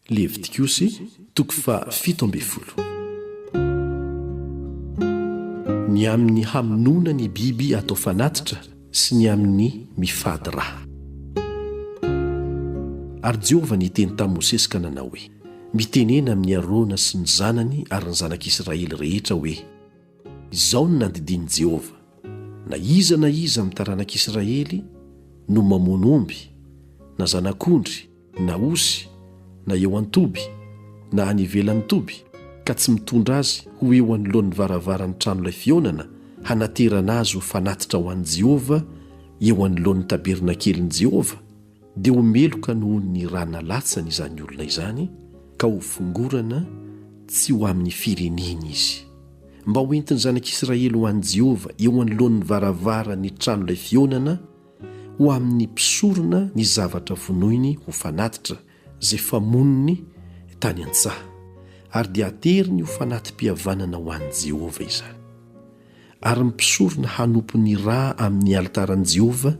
Levitikosy, toko faha fito ambin'ny folo. Ny amin' ny hamonoana ny biby atao fanatitra sy ny amin' ny mifady ra. Ary Jehovah niteny tamin'i Mosesy ka nanao hoe, Mitenena amin' i Arona sy ny zanany ary ny Zanak' Isiraely rehetra hoe, Izao no nandidian' i Jehovah, Na iza na iza amin' ny taranak' Isiraely no mamono omby, na zanak' ondry, na osy, na eo an-toby, na any ivelan'ny toby, ka tsy mitondra azy ho eo anoloan'ny varavaran'ny tranolay fihaonana, hanaterana azy ho fanatitra ho an'i Jehovah eo anoloan'ny tabernakelin'i Jehovah, dia ho meloka noho ny ra nalatsany izany olona izany, ka hofongorana tsy ho amin'ny fireneny izy. Mba hoentin'ny zanak'Israely ho an'i Jehovah eo anoloan'ny varavaran'ny tranolay fihaonana, ho amin'ny mpisorona ny zavatra vonoiny ho fanatitra izay famoniny tany an-tsaha, ary dia ateriny ho fanati-pihavanana ho an'i Jehovah izany. Ary ny mpisorona hanompo ny ra amin'ny alitaran'i Jehovah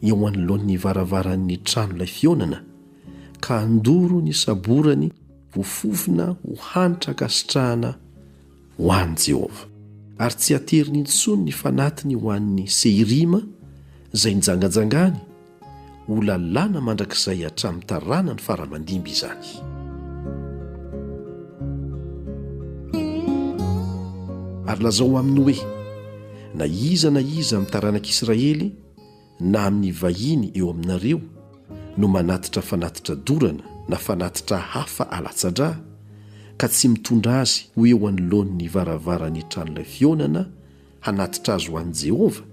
eo anoloan'ny varavaran'ny tranolay fihaonana, ka handoro ny saborany ho fofona ho hanitra ankasitrahana ho an'i Jehovah, ary tsy hateriny intsony ny fanatiny ho an'ny Sehirima izay nijangajangany, ho lalàna mandrakizay hatramin'ny taranany fara-mandimby izany. Ary lazao aminy hoe, Na iza na iza amin'ny taranak'Israely, na amin'ny vahiny eo aminareo no manatitra fanatitra dorana na fanatitra hafa alatsa-drà ka tsy mitondra azy ho eo anoloan'ny varavaran'ny tranolay fihaonana hanatitra azy ho an'i Jehovah,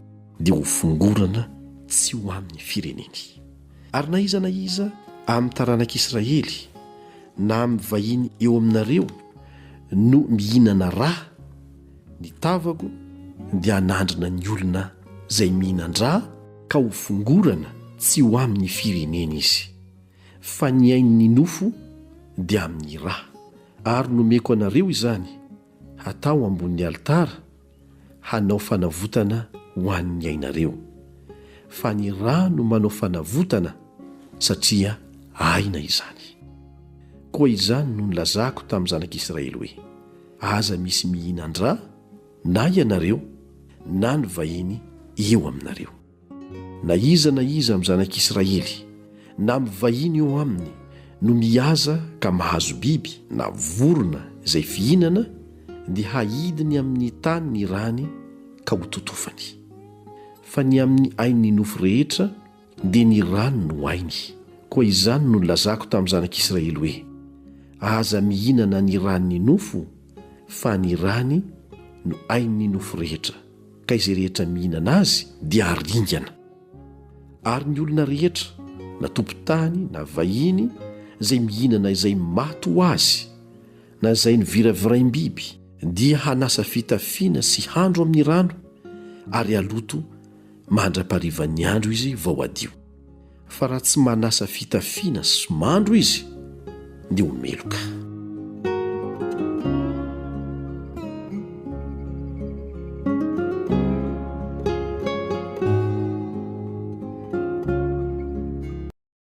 dia ho fongorana tsy ho amin'ny fireneny. Ary na iza na iza amin'ny taranak'Israely na amin'ny vahiny eo aminareo no mihinana rà, Ny tavako dia hanandrina ny olona izay mihinan-dra ka ho fongorana tsy ho amin'ny firenena izy, fa ny ain'ny nofo dia amin'ny ra. Ary nomeko anareo izany hatao ambonin'ny alitara hanao fanavotana ho an'ny ainareo. Fa ny ra no manao fanavotana satria aina izany. Koa izany no nilazako tamin'ny zanak'Israely hoe, Aza misy mihinan-dra na ianareo na ny vahiny eo aminareo. Na iza na iza amin'ny zanak'Israely na amin'ny vahiny eo aminy no mihaza ka mahazo biby na vorona izay fihinana dia hahidiny amin'ny tany ny rany ka hototofany. Fa ny amin'ny ain'ny nofo rehetra Dia ny rano no ainy. Koa izany no nilazako tamin'ny zanak'i Israely hoe, Aza mihinana ny ran'ny nofo, fa ny rany no ain'ny nofo rehetra, ka izay rehetra mihinana azy dia haringana. Ary ny olona rehetra, na tompon-tany na vahiny, izay mihinana izay maty ho azy, na izay noviraviraim-biby, dia hanasa fitafiana sy handro amin'ny rano, ary haloto, Mandra-parivan'ny andro izy vao hadio. Fa raha tsy manasa fitafiana sy mandro izy dia ho meloka.